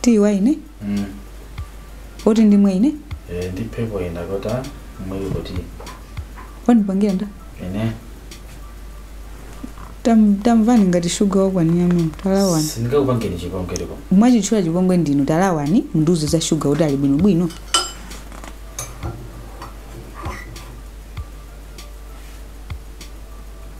tiyi wa ine Mm. oti ndimwe ine Eh, ndi pepo enda kota mwe kuti wandipangira ndani Tam- tamvani ngati shuga wakwanira mimi talawani sindikakupangeni chikongereko mwachitchula chipongwe ndinu talawani mundiuze za shuga kuti ali bwinobwino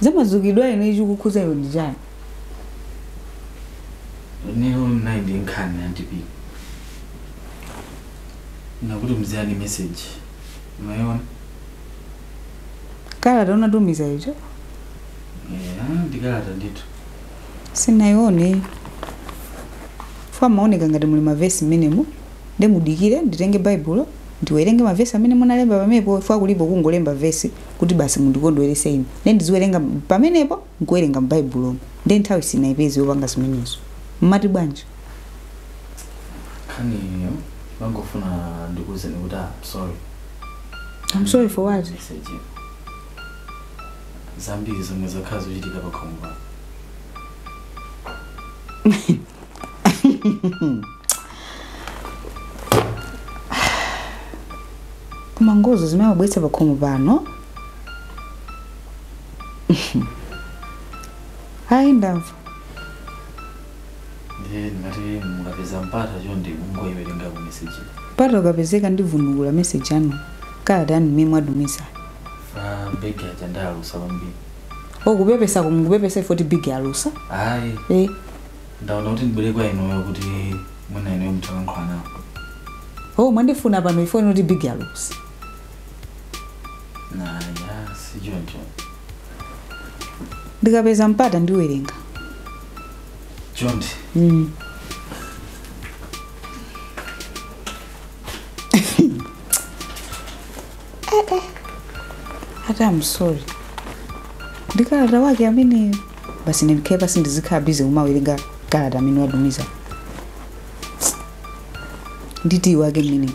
za madzukidwe a ine chikukhuza iwe ndi chiyani Nero nayi ndi nkhani antipi. Nakuti mziyani message. Unaona? kalata unatumiza ija Yeah, ndikalata ndithu. sinayione chifukwa imaoneka ngati muli mavesi mmenemo nde mudikire nditenge baibulo ndiwerenge mavesi amene munalemba pamenepo chifukwa kulipo kungolemba vesi kuti basi mundikondwerese ine nde ndiziwerenga m- pamenepo nkuwerenga mbaibulomo nde nthawi sinaipeze yopanga zimenezo mmati bwanji nkhani iyo mmangofuna ndikuwuzeni kuti ah, sorry I'm sorry for what message iyo. zambiri zomwe zakhala zikuchitika pa khomo pano koma ngozo zimene amabweretsa pakhomo pano ayi ndamva ndiye ndingati mukapeza mpata chonde mungoyiwerenga ku meseji mpata ukapezeka ndivunukula meseji yanu kalata yanu mmene mwatumiza chifukwa big aja alusa kwambiri o kupepesa mukupepesa chifukwa choti big alusa ayi eh ndaona kuti ndibwere kwa inuyo kuti mwina inuyo mutalankhula nawo oh mwandifuna pano chifukwa choti big alusa naya si choncho ndikapeza mpata ndiwerenga chonde mm. ati am sorry ndi kalata wake ameneyo basi ndikhale pansi ndizikhala bize kumawerenga kalata amene watumiza ndi tiyi wake mmeneyo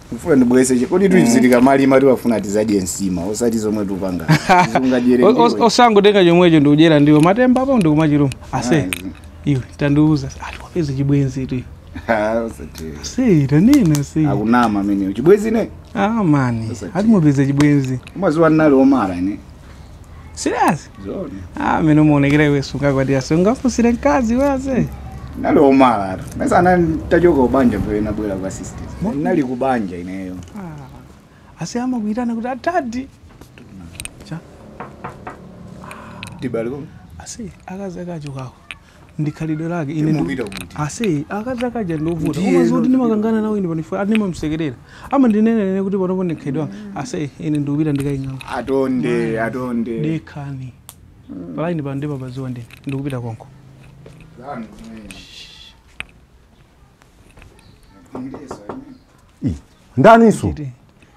Mfuna ndibweze che. Kodi tikuzitika mali mali wafuna tidzadye nsima osati zomwe tikupanga. Zungajere. O- o- osangotenga chomwecho ndikudyera ndiwo matemba apo ndikumachiruma ase iwe tandiuza ati wapeza chibwenzitu se tanena se Akunama ameneyo. Chibwenzi ine? ah mani Osati. ati mwapeza chibwenzi. Umadziwa nali omara ne. Serious? Zoni. Ah, meno muonekeramu iwe sungakwatire sungafusire nkazi wase. Nali umala. Mesa anani ntachoka kubanja ndo inabwera kwa sister. Nali kubanja ineyo. Ah. Asi amakuitana kuti atadi. Cha. Tibaliko. Asi akazi akachokawo. ndi khalidwe lake ine ndu- Timupita kuti? asi akazi akaja ndiovuta Ndiye koma zoti ino- ndimakangana nawo ine pano chifukwa ndimamsekerera amandinena nene kuti panopo ndi khalidwe langa ase ine ndikupita ndikayang'ane atonde atonde dekhani palaini pano ndipabaziwa ndine ndikupita konko ndaniso Iti.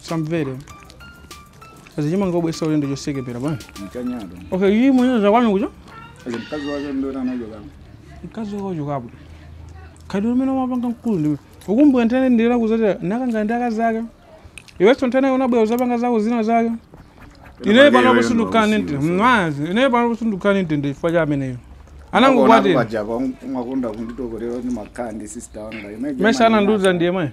samvere kazi chimanga ubwesa ulendo chosekepera bwana mchanyado okay iyi mwenye za kwanu kucho ali mkazi wake ndio anayo kama mkazi wako chokapo kadi umene umapanga mkulu ndiwe ukumbuka ntene ndira kuzatira nakanga ndi akazi ake iwenso ntene unabwera uzapanga zako zina zake ineyo pano kusundukane nte mwazi ineyo pano kusundukane nte ndi chifukwa cha ameneyo anangokwatira paja kwa mwakonda kunditokorera ni makandi sister wanga imagine mesa anandiuza ndiye mwe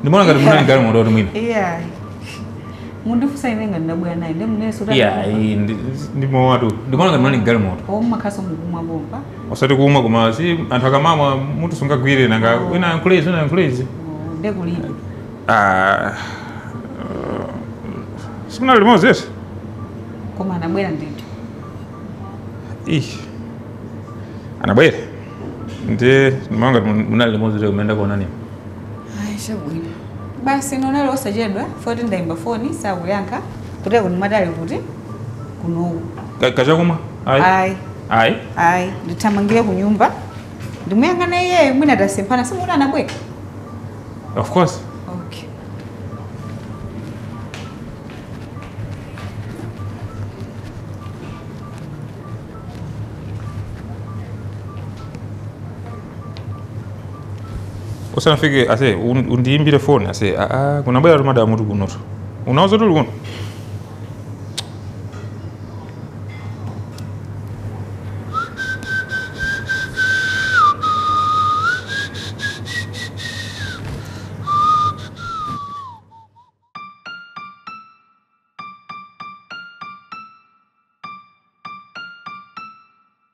ndimaona ngati munali limodzi mwina yeah mundifusa ine ngati ndabwera naye ndi mnene sota yeah iyi ndi- ndi mowatu ndimaona ngati munali limodzi o mmakhaso mukumwa bomba osati kumwa koma si anthu akamamwa mutu sumagwira nanga wina yankhulezi wina yankhulezi nde kulipo Ah, uh, simunali limodzi yese koma anabwera ndithu Ih. anabwera ndi ndimaona ngati munali limodzi leo kumene ndakuonani Ayi chabwino. Basi nonana osachedwa foti ndaimba foni sakuyankha kuteroko ndimati ali kuti kunoku. Ka- Kachakumwa? Ayi. Ayi. Ayi. Ayi ndithamangire ku nyumba ndimuyang'ane iyeyo mwina tasemphana simukuti anabwera. Of course. Okay. usanafike ase un- undiyimbire foni ase aa kunabwera tu madamu tu kunotu unauza tuli kuno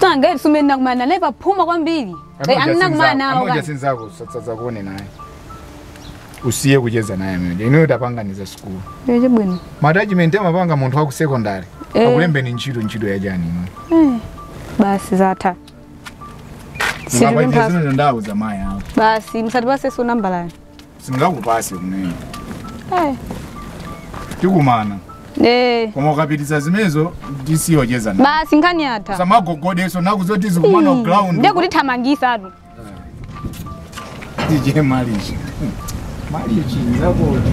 Sanga iri sumene nakumana naye paphuma kwambiri. Eh, Amene nakumana nawo amoja kani. sinzako asazakuone naye usiye kucheza naye amene ineyo tapanganiza sikulu Iwe chibwino. ma attachment amapanga munthu wa ku sekondari Eh. akulembeni ntchito ntchito ya chani ino Basi zatha. Siri ukapitiza mpaka- zimene ndauza mayi awo Basi musatipaseso nambala. singakupase kumene Eh, tikumana eh. koma ukapitisa zimenezo ndisiyocheza nawe. basi nkhani yatha samagogodaso nakuuza tizikumana Hmm, ground ndiye kutithamangisatu tije malichi malichi zakoti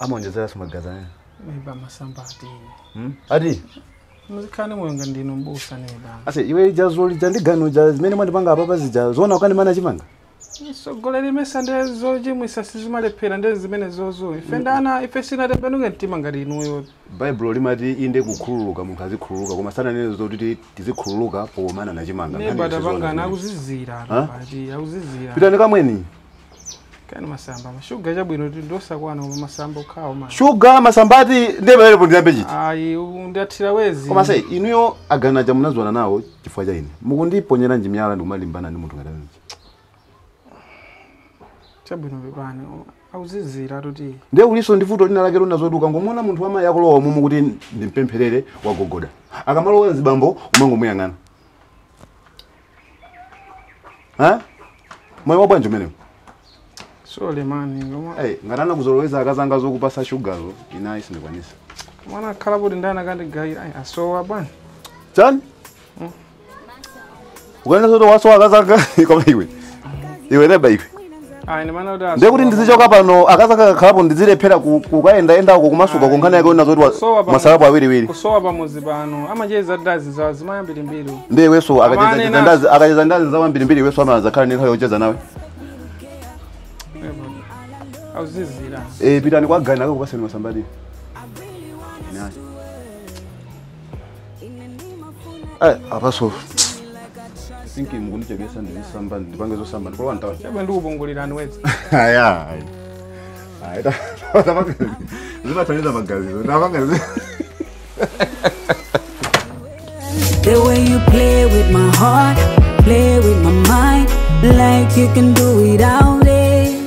amaonjezeranso magazi amene Maiba masamba ati. hmm? ati Muzikane moyo ngati ndinu mbusa neba. ase iwe ija zoti uja ndi gani uja zimene mwandipanga apapa zija zoona ukandimana chimanga Sogolera imesa nde zochimwisa sizimalephera nde zimenezozo. Ife nanga ife sinatembenuke mtima ngati inuyo. baibulo limati inde kukhululuka munthu azikhululuka koma sananene zoti ti- tizikhululuka pomanana chimanga Neba Nkhani si zoona tapangana zimenezi. akuzizira. Ha? Ati akuzizira. pitani kamweni kaya masamba mashuga chabwino kuti ndosakwana koma masamba okhawo ma shuga masamba ati ndiye pamenepo ndiyambe chiyani ayi undathira wezi koma se inuyo a gani aja munazondana nawo chifukwa cha ine mukundiponyera ndi miyala ndikumalimbana ndi munthu ngati ameneyo chabwino pepani akuzizira zoti ndiye kulinso ndi vuto lina lake lonena zoti ukangomuona munthu wammayi akulowa muno kuti ndimpempherere wagogoda akamalowa azibambo umangomuyang'ana ha moyo wabwanji umenewo sole man koma hey, ngati anakuzoloweza akazanga zokupasa shugazo ine ayi sindikwanisa mwana akhala kuti ndani akandigayira ayi asowa bwana chani ukunena zoti wasowa akazanga koma iwe iwe neba iwe ayi ndimanena kuti ndiye kuti ndizichoka pano akazanga akakhalapo ndizilephera ku- kukayendayenda uko kumasuka ku nkhani yake onena zoti wa- Kusowa pano- mwasalapo awiriwiri kusowa pamuzi pano amacheza ndi azizimayi ambirimbiri ndiye iwenso Amane akacheza na- ndazi akacheza ndi azizawo ambirimbiri iwenso amazakhala ndi nthawi yocheza nawe akuzizira Eh, pitani kwa gani akakupaseni masambawo Eh, apaso think mukundijekesa ndizisamba ndipange zosamba ndikalowe ntauni chaba ndikupungulirani wezi ayi zimathandiza magazizo ndapanga The way you play with my heart, play with my mind, like you can do without it.